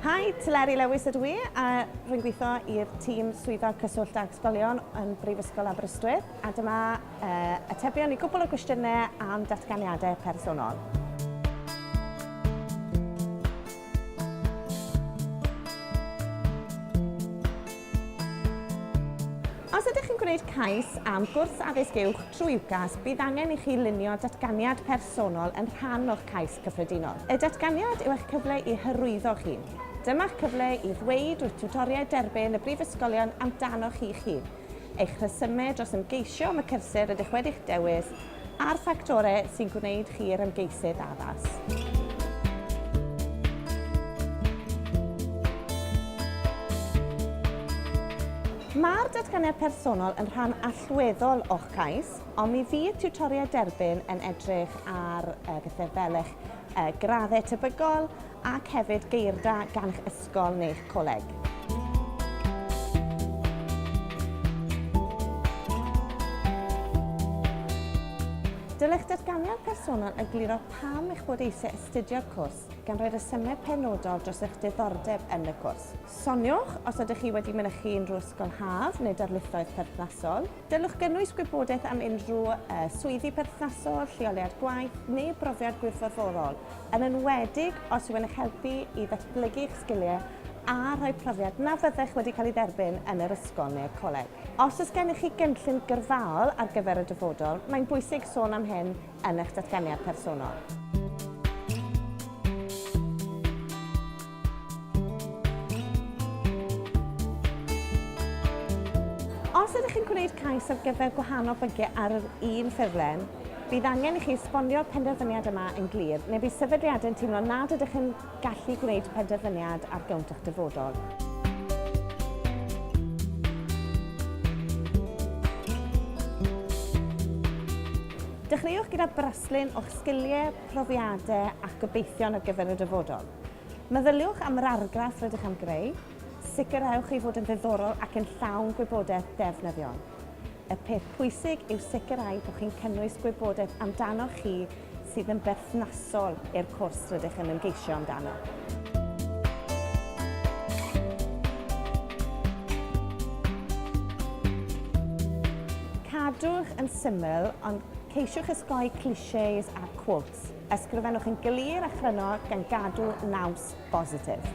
Hi, Teleri Lewis ydw i, a rwy'n gweithio i'r tîm Swyddog Cyswllt ag Ysgolion yn Brifysgol Aberystwyth, a dyma uh, atebion i gwbl o gwestiynau am datganiadau personol. Os ydych yn gwneud cais am gwrs addysg uwch trwy UCAS, bydd angen i chi lunio datganiad personol yn rhan o'ch cais cyffredinol. Y datganiad yw eich cyfle i hyrwyddo'ch hun. Dyma'ch cyfle i ddweud wrth tiwtoriaid derbyn y brifysgolion amdanoch chi'ch hun. eich rhesymeg dros ymgeisio am y cyrsiau rydych wedi'ch dewis, a'r ffactorau sy'n gwneud chi'r ymgeisydd addas. Mae'r Datganiad Personol yn rhan allweddol o'ch cais, ond mi fydd tiwtoriaid derbyn yn edrych ar bethau fel eich graddau tebygol, ac hefyd geir da gan'ch ysgol neu'ch coleg. Dylech datganiad personol egluro pam eich bod eisiau astudio'r cwrs, gan roi rhesymeg penodol dros eich diddordeb yn y cwrs. Soniwch os ydych chi wedi mynychu unrhyw ysgol haf neu darlithoedd perthnasol. Dylech gynnwys gwybodaeth am unrhyw swyddi perthnasol, lleoliad gwaith neu brofiad gwirfoddolol, yn enwedig os yw'n eich helpu i ddatblygu eich sgiliau a rhoi profiad na fyddech wedi cael ei dderbyn yn yr ysgol neu'r coleg. Os oes gennych chi gynllun gyrfaol ar gyfer y dyfodol, mae'n bwysig sôn am hyn yn eich datganiad personol. Os ydych chi'n gwneud cais ar gyfer gwahanol bynciau ar yr un ffurflen, bydd angen i chi esbonio'r penderfyniad yma yn glir, neu bydd sefydliadau'n teimlo nad ydych yn Gallu gwneud penderfyniad ar gownt eich dyfodol. Dechreuwch gyda braslun o'ch sgiliau, profiadau a'ch gobeithion ar gyfer y dyfodol. Meddyliwch am yr argraff rydych am greu, sicrhewch ei fod yn ddiddorol ac yn llawn gwybodaeth ddefnyddiol. Y peth pwysig yw sicrhau bod chi'n cynnwys gwybodaeth amdanoch chi sydd yn berthnasol i'r cwrs rydych yn ymgeisio amdano. Cadwch yn syml, ond ceisiwch osgoi clichés a quotes. Ysgrifennwch yn glir a chryno gan gadw naws bositif.